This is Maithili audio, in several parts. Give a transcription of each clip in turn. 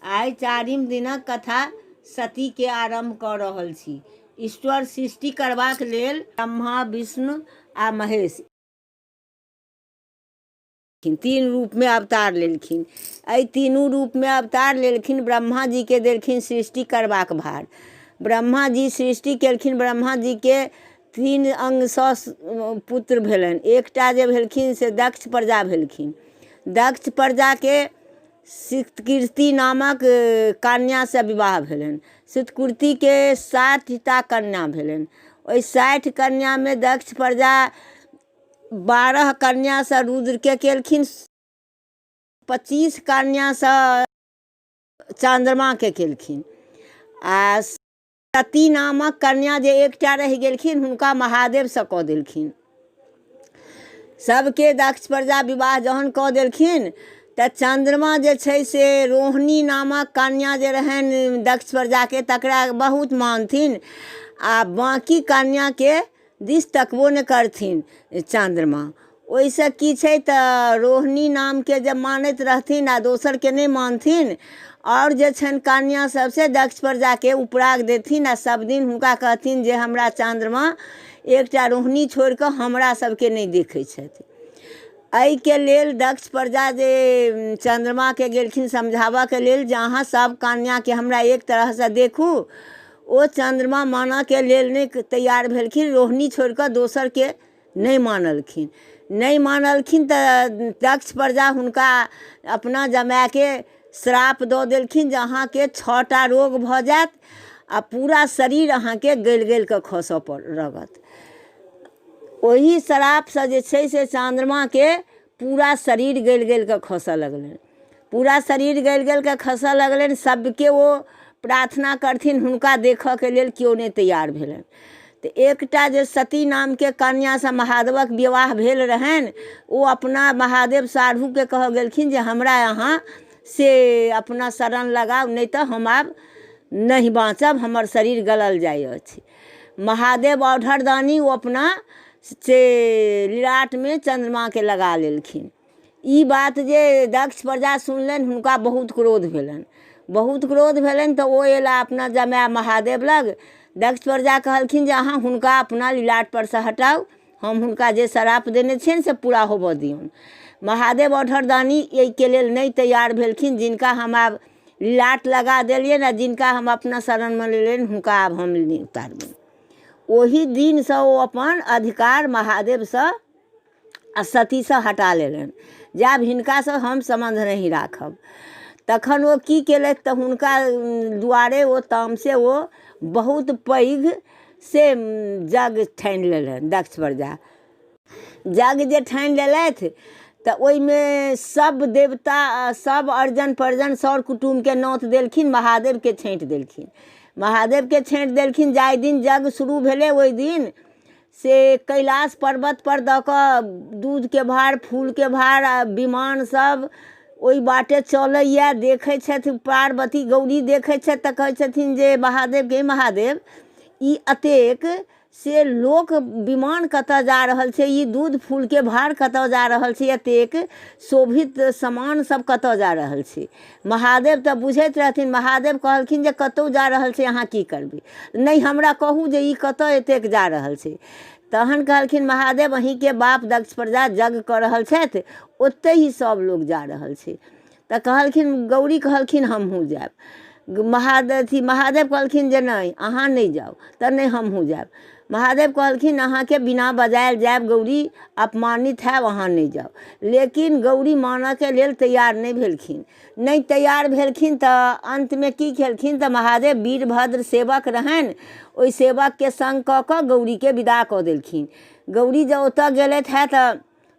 आइ चारिम दिनक कथा सती के आरंभ क रहल छी ईश्वर सृष्टि करबाक लेल ब्रह्मा विष्णु आ महेश तीन रूप में अवतार लेलखिन एहि तीनू रूप में अवतार लेलखिन ब्रह्मा जी के देलखिन सृष्टि करबाक भार ब्रह्मा जी सृष्टि केलखिन ब्रह्मा जी के तीन अंग सँ पुत्र भेलनि एकटा जे भेलखिन से दक्ष प्रजा भेलखिन दक्ष प्रजा के सितकीर्ति नामक कन्यासँ विवाह भेलनि सितकीर्तिके साठिटा कन्या भेलनि ओहि साठि कन्यामे दक्ष प्रजा बारह कन्यासँ रुद्रके केलखिन पच्चीस कन्यासँ चन्द्रमाके केलखिन आ सती नामक कन्या जे एकटा रहि गेलखिन हुनका महादेवसँ कऽ देलखिन सभके दक्ष प्रजा विवाह जहन कऽ देलखिन तऽ चन्द्रमा जे छै से रोहिणी नामक कन्या जे रहनि दक्ष प्रजाके तकरा बहुत मानथिन आ बाँकी कन्याके दिस तकबो नहि करथिन चन्द्रमा ओइसँ की छै तऽ रोहिणी नामके जे मानैत रहथिन आओर दोसरके नहि मानथिन आओर जे छनि कन्या सब से दक्षपर जाके उपराग देथिन आओर सब दिन हुनका कहथिन जे हमरा चन्द्रमा एकटा रोहिणी छोड़िके हमरा सबके नहि देखै छथि अइके लेल दक्ष प्रजा जे चन्द्रमाके गेलखिन समझाबऽके लेल जे अहाँ सब कन्याके हमरा एक तरहसँ देखू ओ चन्द्रमा मानऽके लेल नहि तैयार भेलखिन रोहिणी छोड़िकऽ दोसरके नहि मानलखिन नहि मानलखिन तऽ दक्ष प्रजा हुनका अपना जमायके श्राप दऽ देलखिन जे अहाँके छओ टा रोग भऽ जायत आओर पूरा शरीर अहाँके गलि गलिकऽ खसऽ पड़ लगत ओही श्रापसँ जे छै से चन्द्रमाके पूरा शरीर गलि गलि कऽ खसय लगलनि पूरा शरीर गलि गलि कऽ खसय लगलनि सभके ओ प्रार्थना करथिन हुनका देखयके लेल केओ नहि तैयार भेलनि तऽ एकटा जे सती नामके कन्यासँ महादेवक विवाह भेल रहनि ओ अपना महादेव साढ़ूके कहऽ गेलखिन जे हमरा अहाँ से अपना शरण लगाउ नहि तऽ हम आब नहि बाँचब हमर शरीर गलल जाइ अछि महादेव औढरदानी ओ अपना से लिलाटमे चन्द्रमाके लगा लेलखिन ई बात जे दक्ष प्रजा सुनलनि हुनका बहुत क्रोध भेलनि बहुत क्रोध भेलनि तऽ ओ अयला अपना जमाय महादेव लग दक्ष प्रजा कहलखिन जे अहाँ हुनका अपना लिलाटपर सँ हटाउ हम हुनका जे श्राप देने छियनि से पूरा होबऽ दियौन महादेव औढरदानी एहिके लेल नहि तैयार भेलखिन जिनका हम आब लाट लगा देलियनि आ जिनका हम अपना शरणमे लेलियनि हुनका आब हम नहि उतारबनि ओही दिनसँ ओ अपन अधिकार महादेवसँ आ सतीसँ हटा लेलनि जे आब हिनकासँ हम सम्बन्ध नहि राखब तखन ओ की केलथि तऽ हुनका उम, दुआरे ओ तामसे ओ बहुत पैघ से जग ठानि लेलनि दक्ष प्रजा जग जे ठानि लेलथि तऽ ओहिमे सब देवता आ सब अर्जन पर्जन सर कुटुमके नोत देलखिन महादेवके छाँटि देलखिन महादेवके छाँटि देलखिन जाहि दिन जग शुरू भेलै ओहि दिन से कैलाश पर्वतपर दऽ कऽ दूधके भार फूलके भार आ विमान सब ओहि बाटे चलैए देखै छथि पार्वती गौरी देखै छथि तऽ कहै छथिन जे महादेव गे महादेव ई एतेक से लोक विमान कतऽ जा रहल छै ई दूध फूलके भार कतऽ जा रहल छै एतेक शोभित समान सब कतऽ जा रहल छै महादेव तऽ बुझैत रहथिन महादेव कहलखिन जे कतौ जा रहल छै अहाँ की करबै नहि हमरा कहू जे ई कतऽ एतेक जा रहल छै तहन कहलखिन महादेव अहींके बाप दक्ष प्रजा जग कऽ रहल छथि ओतहि ही सब लोग जा रहल छै तऽ कहलखिन गौरी कहलखिन हमहूँ जायब महादेव अथी महादेव कहलखिन जे नहि अहाँ नहि जाउ तऽ नहि हमहूँ जायब महादेव कहलखिन अहाँके बिना बजायल जायब गौरी अपमानित हैब अहाँ नहि जाउ लेकिन गौरी मानऽके लेल तैयार नहि भेलखिन नहि तैयार भेलखिन तऽ अन्तमे की केलखिन तऽ महादेव वीरभद्र सेवक रहनि ओहि सेवकके सङ्ग कऽ कऽ गौरीके विदा कऽ देलखिन गौरी जे ओतऽ गेलथि हँ तऽ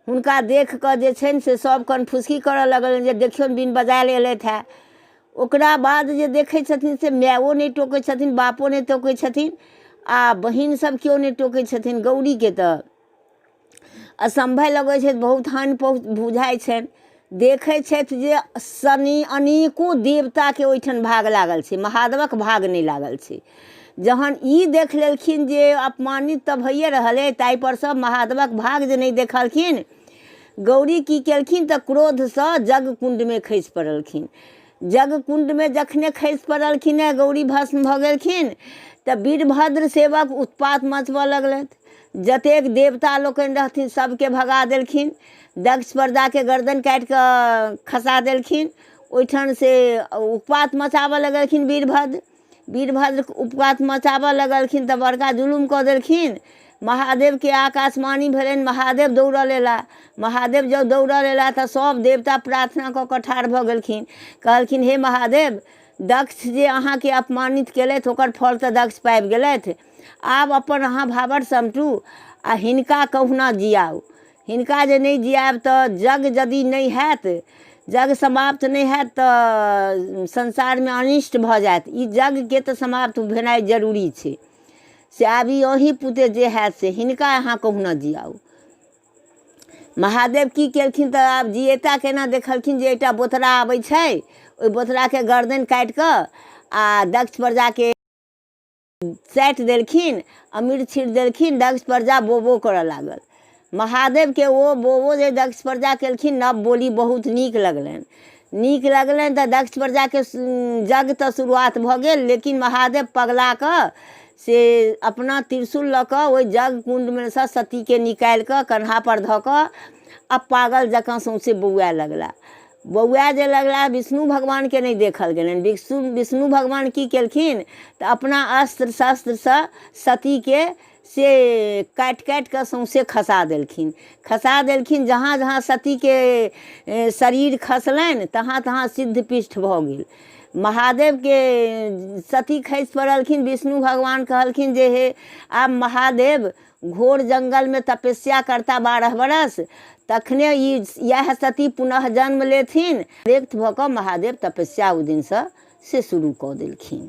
हुनका देख कऽ जे छनि से सभ कन फुसकी करऽ लगलनि जे देखियौन बिन बजायल एलथि हँ ओकरा बाद जे देखै छथिन से मायो नहि टोकै छथिन बापो नहि टोकै छथिन आ बहिन सभ केओ नहि टोकै छथिन गौरीके तऽ असम्भव लगै छै बहुत हानि पहु बुझाइ छनि देखै छथि जे शनि अनेको देवताके ओइठन भाग लागल छै महादेवक भाग नहि लागल छै जहन ई देख लेलखिन जे अपमानित तऽ भइए रहल अइ ताहिपर सँ महादेवक भाग जे नहि देखलखिन गौरी की केलखिन तऽ क्रोधसँ जग कुण्डमे खसि पड़लखिन जग कुण्डमे जखने खसि पड़लखिन हे गौरी भस्म भऽ गेलखिन तऽ वीरभद्र सेवक उत्पात मचबऽ लगलथि जतेक देवता लोकनि रहथिन सभके भगा देलखिन दक्ष प्रजाके गर्दन काटि कऽ खसा देलखिन ओइठनसँ उत्पात मचाबऽ लगलखिन वीरभद्र वीरभद्र उत्पात मचाबऽ लगलखिन तऽ बड़का जुलुम कऽ देलखिन महादेवके आकाशवाणी भेलनि महादेव दौड़ल अयला महादेव जब दौड़ल अयला तऽ सभ देवता प्रार्थना कऽ कऽ ठाढ़ भऽ गेलखिन कहलखिन हे महादेव दक्ष जे अहाँके अपमानित केलथि ओकर फल तऽ दक्ष पाबि गेलथि आब अपन अहाँ भावर समटू आ हिनका कहुना जियाउ हिनका जे नहि जियाएब तऽ जग यदि नहि हैत जग समाप्त नहि हैत तऽ संसारमे अनिष्ट भऽ जायत ई जगके तऽ समाप्त भेनाइ जरूरी छै से आब ई अही पुते जे हैत से हिनका अहाँ कहुना जियाउ महादेव की केलखिन तऽ आब जियेता केना देखलखिन जे एकटा बोतरा अबै छै ओहि बोतराके गर्दन काटि कऽ आ दक्ष प्रजाके चाटि देलखिन अमीर छीटि देलखिन दक्ष प्रजा बो बो करऽ लागल महादेवके ओ बो बो जे दक्ष प्रजा केलखिन नव बोली बहुत नीक लगलनि नीक लगलनि तऽ दक्ष प्रजाके यज्ञ तऽ शुरुआत भऽ गेल लेकिन महादेव पगला कऽ से अपना त्रिशूल लऽ कऽ ओहि यज्ञ कुण्डमे सँ सतीके निकालि कऽ कन्हापर धऽ कऽ आ पागल जकाँ सौँसे बौआए लगला बौआ जे लगला विष्णु भगवानके नहि देखल गेलनि विष्णु विष्णु भगवान की केलखिन तऽ अपना अस्त्र शस्त्रसँ सतीके से काटि काटि कऽ सौँसे खसा देलखिन खसा देलखिन जहाँ जहाँ सतीके शरीर खसलनि तहाँ तहाँ सिद्ध पृष्ठ भऽ गेल महादेवके सती खसि पड़लखिन विष्णु भगवान कहलखिन जे हे आब महादेव घोर जङ्गलमे तपस्या करता बारह बरस तखने ई इएह सती पुनः जन्म लेथिन व्यक्त भऽ कऽ महादेव तपस्या ओहि दिनसँ से शुरू कऽ देलखिन